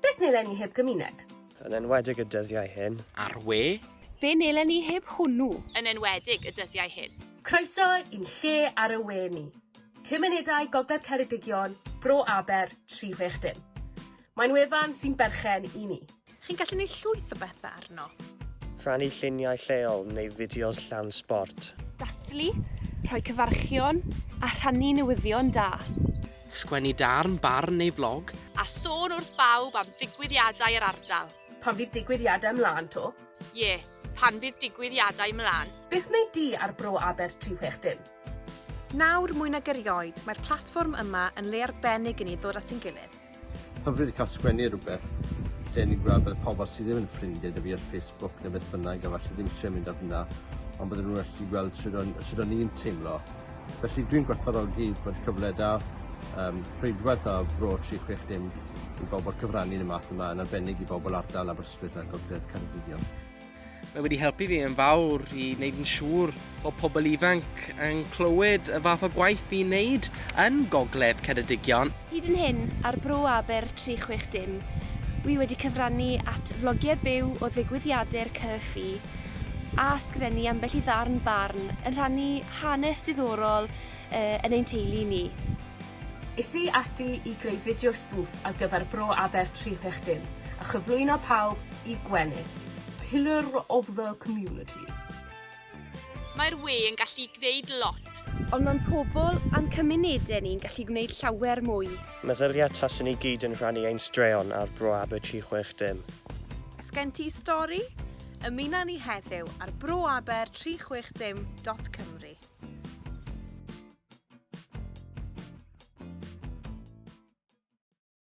Beth neu lenni heb gymuned? Yn enwedig y dyddiau hyn. Ar we? Be neu lenni heb hwnnw? Yn enwedig y dyddiau hyn. Croeso i'n lle ar y we ni. Cymunedau Gogledd Ceredigion, Bro Aber, 360. Mae'n wefan sy'n berchen i ni. Chi'n gallu neud llwyth o bethau arno. Rhannu lluniau lleol neu fideos llawn sbort. Dathlu, rhoi cyfarchion a rhannu newyddion da. Sgwennu darn, barn neu flog. A sôn wrth bawb am ddigwyddiadau yr ardal. Pan fydd digwyddiadau mlaen 'to? Ie, pan fydd digwyddiadau mlaen. Beth wnei di ar Bro Aber 360? Nawr mwy nag erioed, mae'r platfform yma yn le arbennig i ni ddod at ein gilydd. Hyfryd cael sgwennu rhywbeth lle ni'n gweld bod y pobl sydd ddim yn ffrindiau da fi ar Facebook neu beth bynnag a falle ddim eisiau mynd ar hwnna ond bydden nhw'n gallu gweld sut o'n, sut o'n i'n teimlo. Felly dwi'n gwerthfawrogi bod cyfle da um, rheidwaith a bro 360 i bobl cyfrannu yn y math yma yn arbennig i bobl ardal Aberystwyth a Gogledd Ceredigion. Mae wedi helpu fi yn fawr i wneud yn siŵr bod pobl ifanc yn clywed y fath o gwaith fi'n wneud yn Gogledd Ceredigion. Hyd yn hyn, ar Bro Aber 360, wi wedi cyfrannu at flogiau byw o ddigwyddiadur CCFI a sgrenu ambell i ddarn barn yn rhannu hanes diddorol yn ein teulu ni. Es i ati i greu fideo sbwf ar gyfer Bro Aber 360 a chyflwyno pawb i gwenu. Pillar of the community. Mae'r we yn gallu gwneud lot. Ond mae'n pobl a'n cymunedau ni'n gallu gwneud llawer mwy. Meddylia tase ni gyd yn rhannu ein straeon ar Bro Aber 360. Os gen ti stori? Ymuno â ni heddiw ar broaber360.cymru.